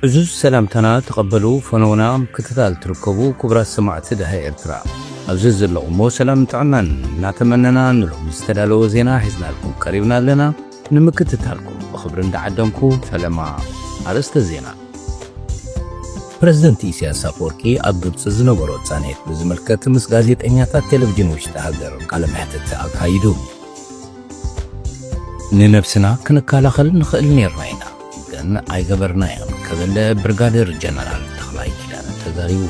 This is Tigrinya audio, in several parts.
ዕዙዝ ሰላምታና ተቐበሉ ፈነውና ምክትታል ትርከቡ ክቡራት ሰማዕቲ ድሃ ኤርትራ ኣብዚ ዘለኹሞ ሰላም ጥዕናን እናተመነና ንሎሚ ዝተዳለወ ዜና ሒዝናልኩም ቀሪብና ኣለና ንምክትታልኩም ብኽብሪ እንዳዓደምኩ ፈለማ ኣርእስተ ዜና ፕረዚደንት ኢሳያስ ኣፈወርቂ ኣብ ግብፂ ዝነበሮ ፃንሒት ብዝምልከት ምስ ጋዜጠኛታት ቴሌቭዥን ውሽጢ ሃገር ቃለ መሕትት ኣካይዱ ንነብስና ክንከላኸል ንኽእል ኔርና ኢና ግን ኣይገበርናዮን ክብል ብርጋዴር ጀነራል ተኽላይ ኪዳነ ተዛሪቡ።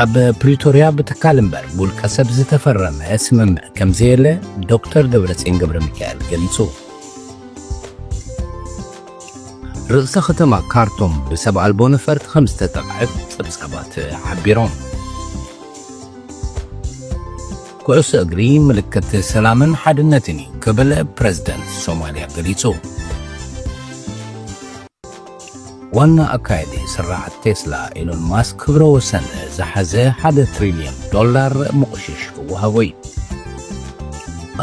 ኣብ ፕሪቶርያ ብትካል እምበር ብውልቀ ሰብ ዝተፈረመ ስምምዕ ከምዘየለ ዶክተር ደብረጽዮን ገብረሚካኤል ገሊጹ። ርእሰ ከተማ ካርቱም ብሰብ ኣልቦ ነፈርቲ ከምዝተጠቕዐት ጸብጻባት ሓቢሮም። ኩዕሶ እግሪ ምልክት ሰላምን ሓድነትን እዩ ክብል ፕረዚደንት ሶማልያ ገሊጹ። ዋና ኣካየዲ ስርዓት ቴስላ ኢሎን ማስክ ክብረ ወሰን ዝሓዘ ሓደ ትሪልዮን ዶላር ምቑሽሽ ክወሃቦ እዩ።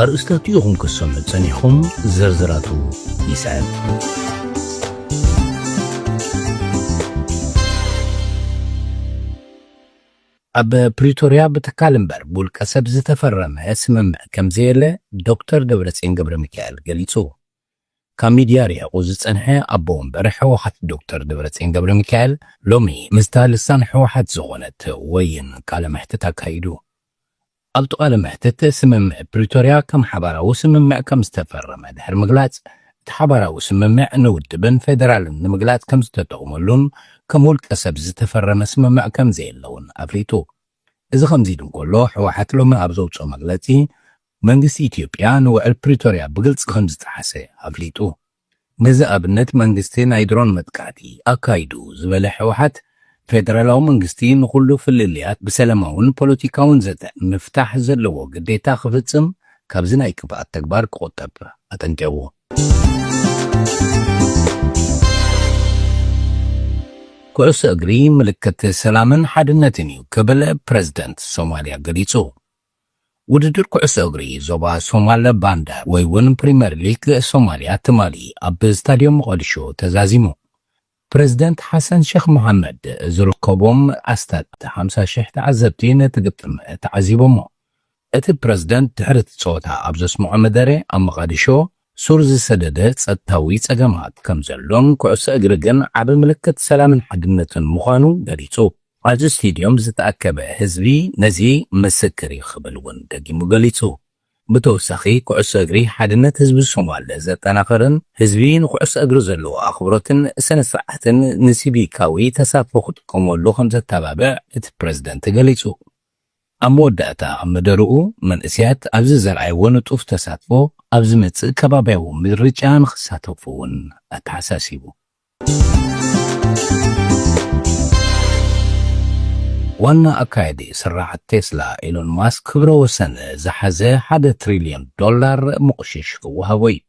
ኣርእስታት ኢኹም ክትሰምዑ ጸኒሕኹም፣ ዝርዝራቱ ይስዕብ። ኣብ ፕሪቶርያ ብትካል እምበር ብውልቀ ሰብ ዝተፈረመ ስምምዕ ከምዘየለ ዶክተር ደብረፅዮን ገብረሚካኤል ገሊፁ። ካብ ሚድያ ርሒቑ ዝፀንሐ ኣቦ ወንበር ህወሓት ዶክተር ደብረፅዮን ገብረሚካኤል ሎሚ ምስታ ልሳን ህወሓት ዝኾነት ወይን ቃለ መሕትት ኣካይዱ። ኣብቲ ቃለ መሕትት፣ ስምምዕ ፕሪቶርያ ከም ሓባራዊ ስምምዕ ከም ዝተፈረመ ድሕሪ ምግላጽ፣ እቲ ሓባራዊ ስምምዕ ንውድብን ፌደራልን ንምግላጽ ከም ዝተጠቕመሉን ከም ውልቀ ሰብ ዝተፈረመ ስምምዕ ከም ዘየለ'ውን ኣፍሊጡ። እዚ ከምዚ ኢሉ እንከሎ፣ ህወሓት ሎሚ ኣብ ዘውጽኦ መግለጺ፣ መንግስቲ ኢትዮጵያ ንውዕል ፕሪቶርያ ብግልጺ ከም ዝጠሓሰ ኣፍሊጡ። ነዚ ኣብነት መንግስቲ ናይ ድሮን መጥቃዕቲ ኣካይዱ ዝበለ ሕውሓት፣ ፌደራላዊ መንግስቲ ንኹሉ ፍልልያት ብሰለማውን ፖለቲካውን ዘተ ምፍታሕ ዘለዎ ግዴታ ክፍጽም ካብዚ ናይ ክፍኣት ተግባር ክቑጠብ ኣጠንቂቑ። ኩዕሶ እግሪ ምልክት ሰላምን ሓድነትን እዩ ክብል ፕረዚደንት ሶማልያ ገሊጹ። ውድድር ኩዕሶ እግሪ ዞባ ሶማለ ባንዳ ወይ ውን ፕሪመር ሊግ ሶማልያ ትማሊ ኣብ ስታድዮም ሞቓድሾ ተዛዚሙ። ፕረዚደንት ሓሰን ሸኽ መሓመድ ዝርከቦም ኣስታት ሓምሳ ሽሕ ተዓዘብቲ ነቲ ግጥም ተዓዚቦሞ። እቲ ፕረዚደንት ድሕሪ እቲ ጸወታ ኣብ ዘስምዖ መደረ ኣብ መቓድሾ ሱር ዝሰደደ ጸጥታዊ ጸገማት ከምዘሎን ኩዕሶ እግሪ ግን ዓቢ ምልክት ሰላምን ሓድነትን ምዃኑ ገሊጹ። ኣብዚ ስቴድዮም ዝተኣከበ ህዝቢ ነዚ ምስክር እዩ ክብል እውን ደጊሙ ገሊጹ። ብተወሳኺ ኩዕሶ እግሪ ሓድነት ህዝቢ ሶማል ዘጠናኽርን ህዝቢ ንኩዕሶ እግሪ ዘለዎ ኣኽብሮትን ስነ ስርዓትን ንሲቪካዊ ተሳትፎ ክጥቀመሉ ከምዘተባብዕ እቲ ፕረዚደንት ገሊጹ። ኣብ መወዳእታ መደርኡ፣ መንእሰያት ኣብዚ ዘርኣይዎ ንጡፍ ተሳትፎ፣ ኣብ ዝመጽእ ከባብያዊ ምርጫ ንኽሳተፉ እውን ኣተሓሳሲቡ። ዋና ኣካያዲ ስርዓት ቴስላ ኤሎን ማስክ፣ ክብረ ወሰን ዝሓዘ ሓደ ትሪልዮን ዶላር ምቕሽሽ ክወሃቦ እዩ።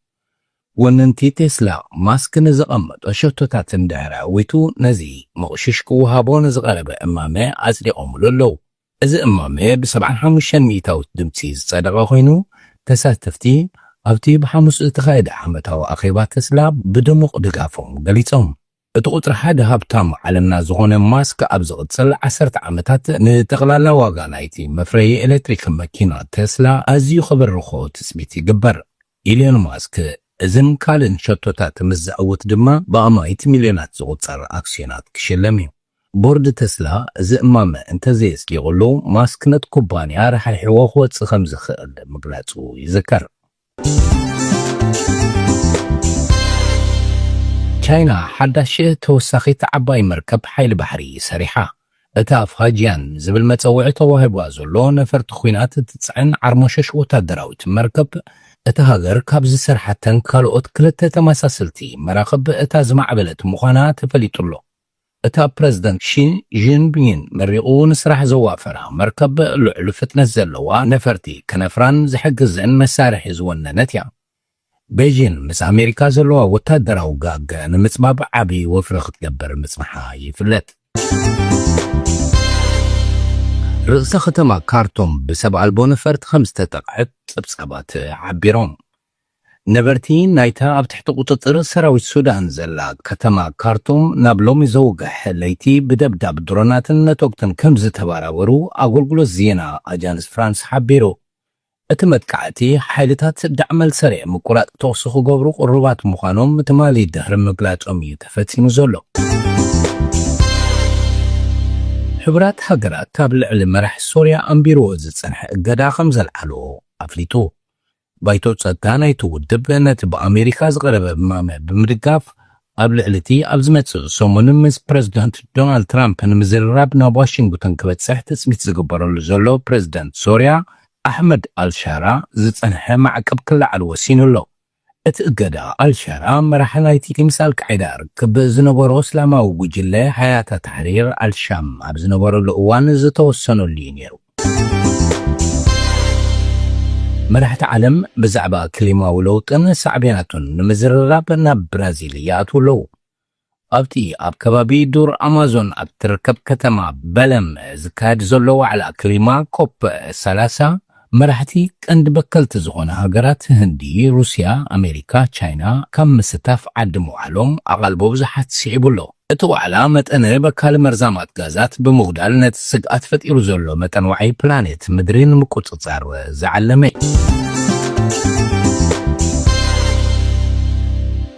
ወነንቲ ቴስላ፣ ማስክ ንዘቐመጦ ሸቶታት እንድሕሪ ኣዕዊቱ፣ ነዚ መቑሽሽ ክወሃቦ ንዝቐረበ እማመ ኣጽዲቖምሉ ኣለዉ። እዚ እማመ ብሰብዓን ሓሙሽተን ሚእታዊት ድምጺ ዝጸደቐ ኮይኑ፣ ተሳተፍቲ ኣብቲ ብሓሙስ ዝተኻየደ ዓመታዊ ኣኼባ ተስላ ብድሙቕ ድጋፎም ገሊጾም። እቲ ቁጽሪ ሓደ ሃብታም ዓለምና ዝኾነ ማስክ ኣብ ዝቕጽል ዓሰርተ ዓመታት ንጠቕላላ ዋጋ ናይቲ መፍረዪ ኤለትሪክ መኪና ተስላ ኣዝዩ ከበርኽኦ ትጽቢት ይግበር። ኢሎን ማስክ እዝን ካልእን ሸቶታት ምስ ዘዕውት ድማ ብኣማኢት ሚልዮናት ዝቑጸር ኣክስዮናት ክሽለም እዩ። ቦርድ ተስላ እዚ እማመ እንተዘየጽዲቑሉ ማስክ ነቲ ኩባንያ ራሕሪሕዎ ክወጽእ ከምዝኽእል ምግላጹ ይዝከር። ቻይና ሓዳሽ ተወሳኺት ዓባይ መርከብ ሓይሊ ባሕሪ ሰሪሓ። እታ ፋጂያን ዝብል መጸውዒ ተዋሂቡዋ ዘሎ ነፈርቲ ኲናት እትጽዕን ዓርሞሸሽ ወታደራዊት መርከብ፣ እታ ሃገር ካብ ዝሰርሓተን ካልኦት ክልተ ተመሳሰልቲ መራኽብ እታ ዝማዕበለት ምዃና ተፈሊጡ'ሎ። እታ ፕረዚደንት ሺ ጂንፒንግ መሪቑ ንስራሕ ዘዋፈራ መርከብ ልዑል ፍጥነት ዘለዋ ነፈርቲ ክነፍራን ዝሕግዘን መሳርሒ ዝወነነት እያ። ቤጂን ምስ ኣሜሪካ ዘለዋ ወታደራዊ ጋግ ንምጽባብ ዓቢ ወፍሪ ክትገብር ምጽንሓ ይፍለጥ። ርእሰ ከተማ ካርቱም ብሰብ ኣልቦ ነፈርቲ ከምዝተጠቕዐት ጸብጻባት ሓቢሮም። ነበርቲ ናይታ ኣብ ትሕቲ ቁጽጽር ሰራዊት ሱዳን ዘላ ከተማ ካርቱም ናብ ሎሚ ዘውግሕ ለይቲ ብደብዳብ ድሮናትን ነቶግትን ከምዝተባራበሩ ኣጎልጉሎት ዜና ኣጃንስ ፍራንስ ሓቢሩ። እቲ መጥቃዕቲ ሓይልታት ዳዕመልሰሬ ምቁራጽ ተኹሲ ክገብሩ ቅሩባት ምዃኖም ትማሊ ድሕሪ ምግላጾም እዩ ተፈጺሙ ዘሎ። ሕቡራት ሃገራት ኣብ ልዕሊ መራሒ ሶርያ ኣንቢርዎ ዝጸንሐ እገዳ ከምዘልዓሎ ኣፍሊጡ። ባይቶ ጸጥታ ናይቲ ውድብ ነቲ ብኣሜሪካ ዝቐረበ እማመ ብምድጋፍ፣ ኣብ ልዕሊ እቲ ኣብ ዝመጽእ ሰሙን ምስ ፕረዚደንት ዶናልድ ትራምፕ ንምዝርራብ ናብ ዋሽንግቶን ክበጽሕ ትጽቢት ዝግበረሉ ዘሎ ፕረዚደንት ሶርያ ኣሕመድ ኣልሻራ ዝጸንሐ ማዕቀብ ክለዓል ወሲኑ ኣሎ። እቲ እገዳ፣ ኣልሻራ መራሒ ናይቲ ምስ ኣልቃዒዳ ርክብ ዝነበሮ እስላማዊ ጉጅለ ሃያተ ታሕሪር ኣልሻም ኣብ ዝነበረሉ እዋን ዝተወሰነሉ'ዩ ነይሩ። መራሕቲ ዓለም ብዛዕባ ክሊማዊ ለውጥን ሳዕቤናቱን ንምዝርራብ ናብ ብራዚል ይኣትዉ ኣለዉ። ኣብቲ ኣብ ከባቢ ዱር ኣማዞን ኣብ እትርከብ ከተማ በለም ዝካየድ ዘሎ ዋዕላ ክሊማ ኮፕ ሰላሳ፣ መራሕቲ ቀንዲ በከልቲ ዝኾና ሃገራት ህንዲ፣ ሩስያ፣ ኣሜሪካ፣ ቻይና ካብ ምስታፍ ዓዲ ምውዓሎም ኣቓልቦ ብዙሓት ስዒቡ ኣሎ። እቲ ዋዕላ መጠነ በካሊ መርዛማት ጋዛት ብምጉዳል ነቲ ስግኣት ፈጢሩ ዘሎ መጠን ዋዒ ፕላኔት ምድሪ ንምቁጽጻር ዝዓለመ እዩ።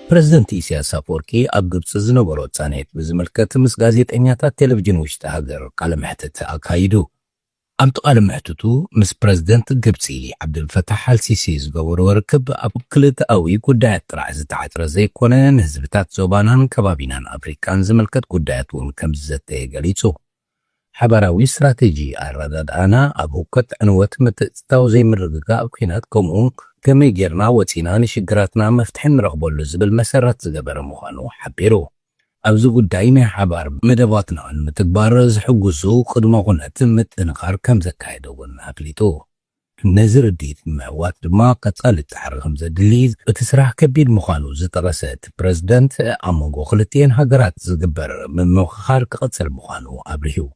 ፕረዚደንት ኢሳያስ ኣፈወርቂ ኣብ ግብጺ ዝነበሮ ጻንሒት ብዝምልከት ምስ ጋዜጠኛታት ቴለቭዥን ውሽጢ ሃገር ቃለ መሕትት ኣካይዱ። ኣብቲ ቃለ መሕትቱ ምስ ፕረዚደንት ግብጺ ዓብደልፈታሕ ኣልሲሲ ዝገበሮ ርክብ ኣብ ክልተኣዊ ጉዳያት ጥራሕ ዝተዓጽረ ዘይኮነ ንህዝብታት ዞባናን ከባቢናን ኣፍሪቃን ዝምልከት ጉዳያት እውን ከምዝዘተየ ገሊጹ። ሓባራዊ ስትራቴጂ ኣረዳድኣና ኣብ ህውከት ዕንወት ምትእትታው ዘይምርግጋእ ኲናት ከምኡውን ከመይ ጌርና ወጺና ንሽግራትና መፍትሒ ንረኽበሉ ዝብል መሰረት ዝገበረ ምዃኑ ሓቢሩ። ኣብዚ ጉዳይ ናይ ሓባር መደባትና ንምትግባር ዝሕጉዙ ቅድመ ኩነት ምጥንኻር ከምዘካየደ እውን ኣፍሊጡ። ነዚ ርድኢት ንምዕዋት ድማ ቀፃሊ ፃዕሪ ከምዘድሊ እቲ ስራሕ ከቢድ ምዃኑ ዝጠቐሰ እቲ ፕረዚደንት ኣብ መንጎ ክልቲኤን ሃገራት ዝግበር ምምኽኻር ክቕፅል ምዃኑ ኣብሪሁ።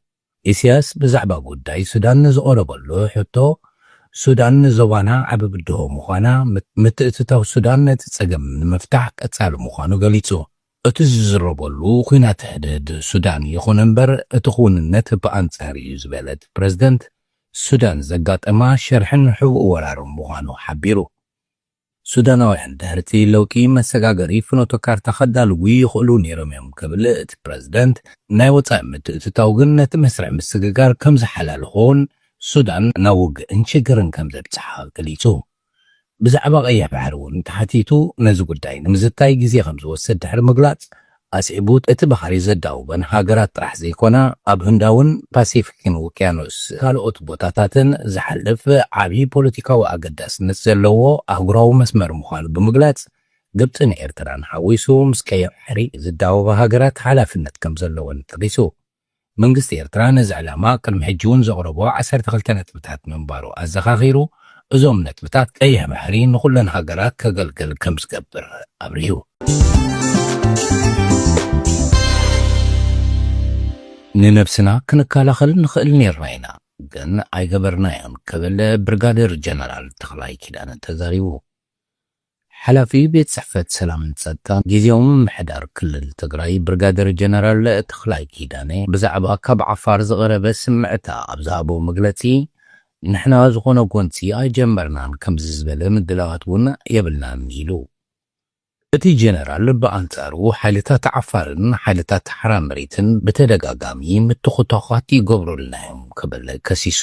ኢሲያስ ብዛዕባ ጉዳይ ሱዳን ንዝቐረበሉ ሕቶ፣ ሱዳን ንዞባና ዓቢ ብድሆ ምዃና፣ ምትእትታው ሱዳን ነቲ ጸገም ንምፍታሕ ቀጻሊ ምዃኑ ገሊጹ። እቲ ዝዝረበሉ ኲናት ሕድሕድ ሱዳን ይኹን እምበር እቲ ክውንነት ብኣንጻር እዩ ዝበለ እቲ ፕረዚደንት፣ ሱዳን ዘጋጠማ ሸርሕን ሕቡእ ወራርን ምዃኑ ሓቢሩ። ሱዳናውያን ድሕሪ'ቲ ለውጢ መሰጋገሪ ፍኖተ ካርታ ከዳልዉ ይኽእሉ ነይሮም'ዮም ክብል እቲ ፕረዚደንት፣ ናይ ወጻኢ ምትእትታው ግን ነቲ መስርሕ ምስግጋር ከም ዝሓላልኾን ሱዳን ናብ ውግእን ሽግርን ከም ዘብጽሓ ገሊጹ። ብዛዕባ ቀይሕ ባሕሪ'ውን ተሓቲቱ ነዚ ጉዳይ ንምዝታይ ግዜ ከም ዝወስድ ድሕሪ ምግላጽ፣ ኣስዒቡ እቲ ባሕሪ ዘዳውበን ሃገራት ጥራሕ ዘይኮና ኣብ ህንዳውን ፓሲፊክን ውቅያኖስ ካልኦት ቦታታትን ዝሓልፍ ዓብዪ ፖለቲካዊ ኣገዳስነት ዘለዎ ኣህጉራዊ መስመር ምዃኑ ብምግላፅ ግብፅን ኤርትራን ሓዊሱ ምስ ቀይሕ ባሕሪ ዝዳወባ ሃገራት ሓላፍነት ከምዘለወን ጠቒሱ። መንግስቲ ኤርትራ ነዚ ዕላማ ቅድሚ ሕጂ'ውን ዘቕረቦ ዓሰርተ ክልተ ነጥብታት ምንባሩ ኣዘኻኺሩ፣ እዞም ነጥብታት ቀይሕ ባሕሪ ንኹለን ሃገራት ከገልግል ከምዝገብር ኣብሪሁ። ንነብስና ክንከላኸል ንኽእል ኔርና ኢና፣ ግን ኣይገበርናዮን ክብል ብርጋዴር ጀነራል ተኽላይ ኪዳነ ተዛሪቡ። ሓላፊ ቤት ፅሕፈት ሰላምን ፀጥታን ጊዚያዊ ምምሕዳር ክልል ትግራይ ብርጋዴር ጀነራል ተኽላይ ኪዳነ ብዛዕባ ካብ ዓፋር ዝቐረበ ስምዕታ ኣብ ዝሃቦ መግለፂ ንሕና ዝኾነ ጎንፂ ኣይጀመርናን ከምዚ ዝበለ ምድላዋት እውን የብልናን ኢሉ። እቲ ጀነራል ብኣንፃሩ ሓይልታት ዓፋርን ሓይልታት ሓራ መሬትን ብተደጋጋሚ ምትኹታዃት ይገብሩልና እዮም ክብል ከሲሱ።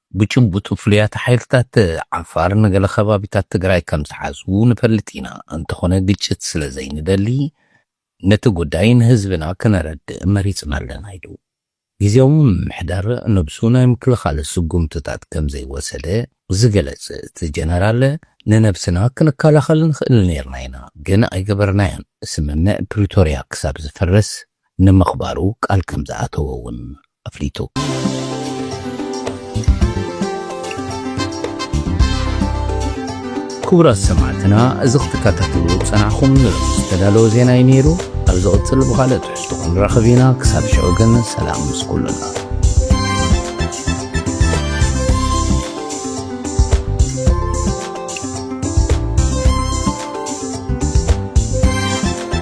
ብጭቡጥ ፍሉያት ሓይልታት ዓፋር ንገለ ከባቢታት ትግራይ ከምዝሓዙ ንፈልጥ ኢና፣ እንተኾነ ግጭት ስለዘይንደሊ ነቲ ጉዳይ ንህዝብና ክነረድእ መሪፅና ኣለና ኢሉ። ግዝያዊ ምምሕዳር ነብሱ ናይ ምክልኻል ስጉምትታት ከምዘይወሰደ ዝገለፅ እቲ ጀነራል፣ ንነብስና ክንከላኸል ንኽእል ነይርና ኢና ግን ኣይገበርናዮን፣ ስምምዕ ፕሪቶርያ ክሳብ ዝፍረስ ንምኽባሩ ቃል ከምዝኣተወ እውን ኣፍሊጡ። ክቡራት ሰማዕትና እዚ ክትከታተልዎ ዝጸናሕኹም ንሎሚ ዝተዳለወ ዜና እዩ ነይሩ። ኣብ ዝቕጽል ብኻልእ ትሕዝቶ ክንራኸብ ኢና። ክሳብ ሽዑ ግን ሰላም ምስ ኩሉና።